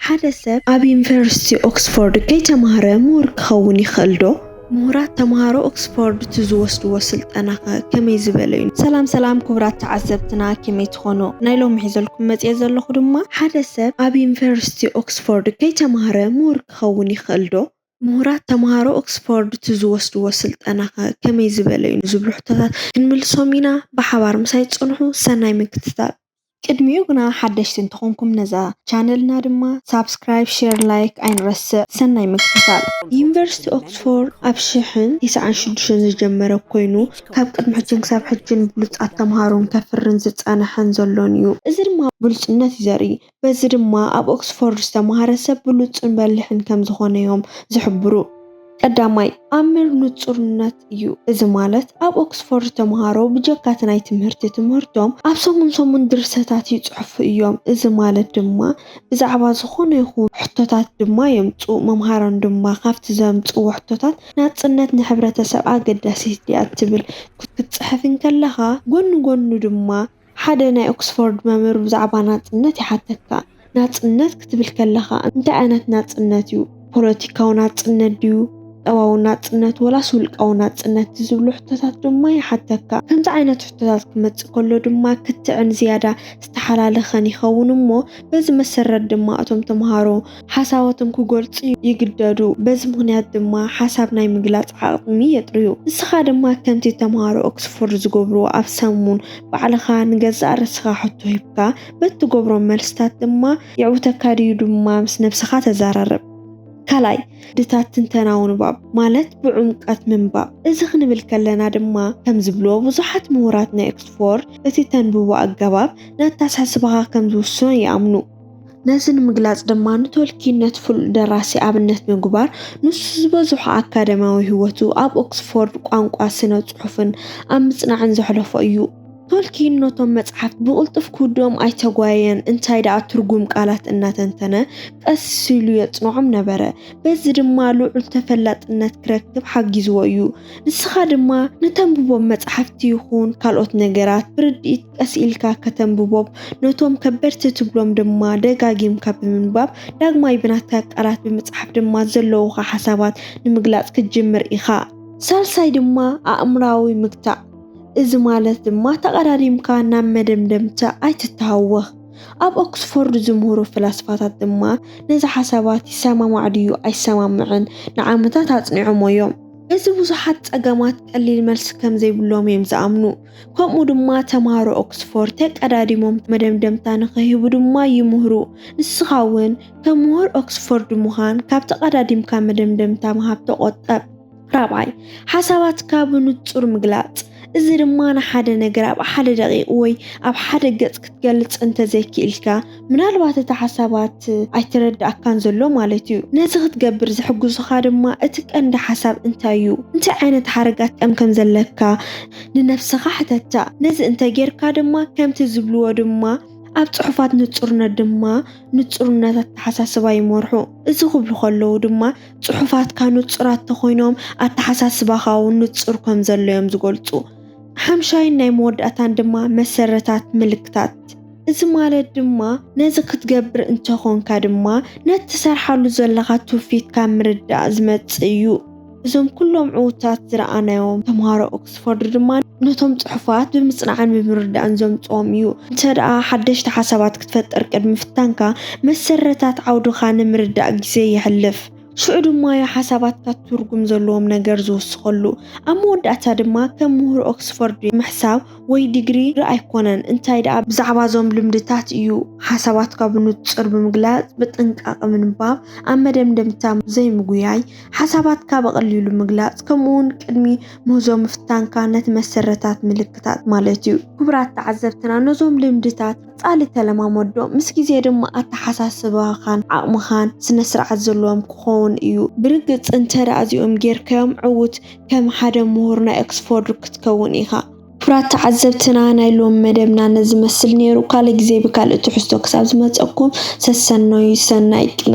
ሓደ ሰብ ኣብ ዩኒቨርሲቲ ኦክስፎርድ ከይተማህረ ምሁር ክኸውን ይኽእል ዶ? ምሁራት ተምሃሮ ኦክስፎርድ እቲ ዝወስድዎ ስልጠናኸ ከመይ ዝበለ እዩ? ሰላም ሰላም ክቡራት ተዓዘብትና ከመይ ትኾኑ? ናይ ሎሚ ሒዘልኩም መፂኤ ዘለኹ ድማ ሓደ ሰብ ኣብ ዩኒቨርሲቲ ኦክስፎርድ ከይተማህረ ምሁር ክኸውን ይኽእል ዶ? ምሁራት ተምሃሮ ኦክስፎርድ እቲ ዝወስድዎ ስልጠናኸ ከመይ ዝበለ እዩ? ንዝብሉ ሕቶታት ክንምልሶም ኢና። ብሓባር ምሳይ ፅንሑ። ሰናይ ምክትታል። ቅድሚኡ ግና ሓደሽቲ እንተኾንኩም ነዛ ቻነልና ድማ ሳብስክራይብ ሼር ላይክ ኣይንረስዕ ሰናይ ምክትታል። ዩኒቨርሲቲ ኦክስፎርድ ኣብ ሽሕን ቲስዓን ሽዱሽተን ዝጀመረ ኮይኑ ካብ ቅድሚ ሕጂን ክሳብ ሕጂን ብሉጻት ተምሃሮን ከፍርን ዝጸነሐን ዘሎን እዩ። እዚ ድማ ብሉጽነት እዩ ዘርኢ። በዚ ድማ ኣብ ኦክስፎርድ ዝተምሃረ ሰብ ብሉጽን በሊሕን ከም ዝኾነዮም ዝሕብሩ። ቀዳማይ፣ ኣምር ንጹርነት እዩ፣ እዚ ማለት ኣብ ኦክስፎርድ ተመሃሮ ብጀካ እቲ ናይ ትምህርቲ ትምህርቶም ኣብ ሰሙን ሰሙን ድርሰታት ይጽሕፉ እዮም፣ እዚ ማለት ድማ ብዛዕባ ዝኾነ ይኹን ሕቶታት ድማ የምጽኡ፣ መምሃራን ድማ ካብቲ ዘምጽእዎ ሕቶታት ናጽነት ንሕብረተሰብ ኣገዳሲት ድያ ትብል ክትጽሕፍ እንከለኻ ጎኒ ጎኑ ድማ ሓደ ናይ ኦክስፎርድ መምህር ብዛዕባ ናጽነት ይሓተካ፣ ናጽነት ክትብል ከለኻ እንታይ ዓይነት ናጽነት እዩ? ፖለቲካዊ ናጽነት ድዩ? ቁጠባዊ ናጽነት? ወላስ ውልቃዊ ናጽነት? ዝብሉ ሕቶታት ድማ ይሓተካ። ከምዚ ዓይነት ሕቶታት ክመጽእ ከሎ ድማ ክትዕን ዝያዳ ዝተሓላለኸን ይኸውን እሞ በዚ መሰረት ድማ እቶም ተመሃሮ ሓሳባቶም ክገልጹ ይግደዱ፣ በዚ ምኽንያት ድማ ሓሳብ ናይ ምግላጽ ዓቕሚ የጥርዩ። ንስኻ ድማ ከምቲ ተመሃሮ ኦክስፎርድ ዝገብርዎ ኣብ ሰሙን ባዕልኻ ንገዛእ ርእስኻ ሕቶ ሂብካ በቲ ትገብሮ መልስታት ድማ የዕውተካ ድዩ ድማ ምስ ነብስኻ ተዛራረብ። ካልኣይ፣ ድታት ትንተናዊ ንባብ ማለት ብዕምቀት ምንባብ። እዚ ክንብል ከለና ድማ ከም ዝብልዎ ብዙሓት ምሁራት ናይ ኦክስፎርድ እቲ ተንብቦ ኣገባብ ንኣተሓሳስባኻ ከም ዝውስኖ ይኣምኑ። ነዚ ንምግላጽ ድማ ንቶልኪን ነቲ ፍሉጥ ደራሲ ኣብነት ብምግባር ንሱ ዝበዝሖ ኣካዳምያዊ ህይወቱ ኣብ ኦክስፎርድ ቋንቋ ስነ ጽሑፍን ኣብ ምጽናዕን ዘሕለፎ እዩ። ቶልኪን ነቶም መጽሓፍቲ ብቕልጡፍ ክውድኦም ኣይተጓየየን፣ እንታይ ደኣ ትርጉም ቃላት እናተንተነ ቀስ ኢሉ የጽንዖም ነበረ። በዚ ድማ ልዑል ተፈላጥነት ክረክብ ሓጊዝዎ እዩ። ንስኻ ድማ ንተንብቦም መጻሕፍቲ ይኹን ካልኦት ነገራት ብርድኢት ቀስ ኢልካ ከተንብቦም ነቶም ከበድቲ ትብሎም ድማ ደጋጊምካ ብምንባብ ዳግማይ ብናትካ ቃላት ብምጽሓፍ ድማ ዘለዉኻ ሓሳባት ንምግላጽ ክትጅምር ኢኻ። ሳልሳይ ድማ ኣእምራዊ ምግታእ እዚ ማለት ድማ ተቐዳዲምካ ናብ መደምደምታ ኣይትተሃወኽ። ኣብ ኦክስፎርድ ዝምህሩ ፈላስፋታት ድማ ነዚ ሓሳባት ይሰማማዕ ድዩ ኣይሰማምዕን ንዓመታት ኣጽኒዖሞ እዮም። እዚ ብዙሓት ጸገማት ቀሊል መልሲ ከም ዘይብሎም እዮም ዝኣምኑ። ከምኡ ድማ ተማሃሮ ኦክስፎርድ ተቀዳዲሞም መደምደምታ ንኸይህቡ ድማ ይምህሩ። ንስኻ እውን ከም ምሁር ኦክስፎርድ ምዃን ካብ ተቀዳዲምካ መደምደምታ ምሃብ ተቆጠብ። ራብዓይ፣ ሓሳባትካ ብንጹር ምግላጽ። እዚ ድማ ንሓደ ነገር ኣብ ሓደ ደቂቕ ወይ ኣብ ሓደ ገጽ ክትገልጽ እንተ ዘይክኢልካ፣ ምናልባት እቲ ሓሳባት ኣይተረድኣካን ዘሎ ማለት እዩ። ነዚ ክትገብር ዝሕግዙኻ ድማ እቲ ቀንዲ ሓሳብ እንታይ እዩ፣ እንታይ ዓይነት ሓረግ ኣትቀም ከም ዘለካ ንነፍስኻ ሕተታ። ነዚ እንተ ጌርካ ድማ ከምቲ ዝብልዎ ድማ ኣብ ጽሑፋት ንጹርነት ድማ ንጹርነት ኣተሓሳስባ ይመርሑ። እዚ ክብሉ ከለዉ ድማ ጽሑፋትካ ንጹራት ተኾይኖም ኣተሓሳስባኻ እውን ንጹር ከም ዘሎ እዮም ዝገልጹ። ሓምሻይን ናይ መወዳእታን ድማ መሰረታት ምልክታት። እዚ ማለት ድማ ነዚ ክትገብር እንተኾንካ ድማ ነቲ ትሰርሓሉ ዘለኻ ትውፊት ካብ ምርዳእ ዝመጽእ እዩ። እዞም ኩሎም ዕውታት ዝረኣናዮም ተምሃሮ ኦክስፎርድ ድማ ነቶም ጽሑፋት ብምጽናዕን ብምርዳእን ዘምጽኦም እዩ። እንተደኣ ሓደሽቲ ሓሳባት ክትፈጥር ቅድሚ ምፍታንካ፣ መሰረታት ዓውድኻ ንምርዳእ ግዜ የሕልፍ። ሽዑ ድማ እዩ ሓሳባትካ ትርጉም ዘለዎም ነገር ዝውስኸሉ። ኣብ መወዳእታ ድማ ከም ምሁር ኦክስፎርድ ምሕሳብ ወይ ዲግሪ ር ኣይኮነን፣ እንታይ ደኣ ብዛዕባ እዞም ልምድታት እዩ። ሓሳባትካ ብንጹር ብምግላጽ ብጥንቃቐ ምንባብ፣ ኣብ መደምደምታ ዘይምጉያይ፣ ሓሳባትካ ብቐሊሉ ምግላጽ፣ ከምኡ'ውን ቅድሚ ምህዞ ምፍታንካ ነቲ መሰረታት ምልክታት ማለት እዩ። ክቡራት ተዓዘብትና ነዞም ልምድታት ጻሊ ተለማመዶ ምስ ግዜ ድማ ኣተሓሳስባኻን ዓቕምኻን ስነስርዓት ዘለዎም ክኾውን እዩ። ብርግጽ እንተ እዚኦም ጌርካዮም ዕዉት ከም ሓደ ምሁር ናይ ኦክስፎርድ ክትከውን ኢኻ። ክብራት ተዓዘብትና ናይ ሎሚ መደብና ነዚ መስል ኔሩ ካልእ ግዜ ብካልእ ትሕዝቶ ክሳብ ዝመጸኩም ሰሰነዩ ሰናይ ቅነ።